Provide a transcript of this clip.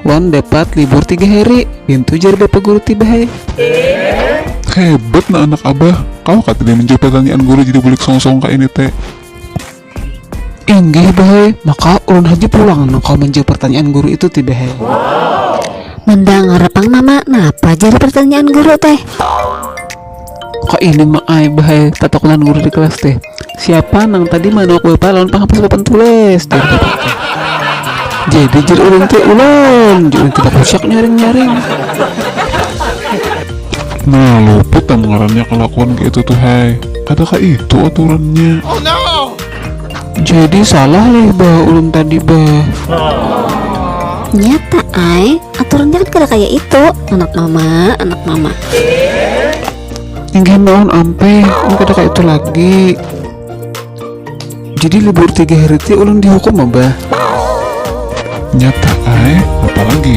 Wan dapat libur tiga hari, bintu jar bapa guru ti bahai. Hebat nah anak abah, kawa kah tadi manjawab pertanyaan guru jadi bulik songosong ka ini te. Inggih bahai, maka ulun haja pulang nang kawa manjawab pertanyaan guru itu ti bahai. Mandangar pang mama, napa jar pertanyaan guru te. kok ini mak ai bahai tatakutan guru di kelas teh siapa nang tadi manuk bapak lawan penghapus papan tulis jar bapak teh jadi jar ulun teh ulun jar ulun teh bakusiak nyaring nyaring Nah, luput am ngarannya kelakuan kayak itu tuh, hai. Ada kah itu aturannya? Oh no! Jadi salah leh bah ulun tadi bah. Nyata ai. Aturan jangan kada kaya itu, anak mama, anak mama. Inggih nuhun ampih, mun kada kaya itu lagi. Jadi libur tiga hari ti ulun dihukum abah? Nyata ai, apa lagi?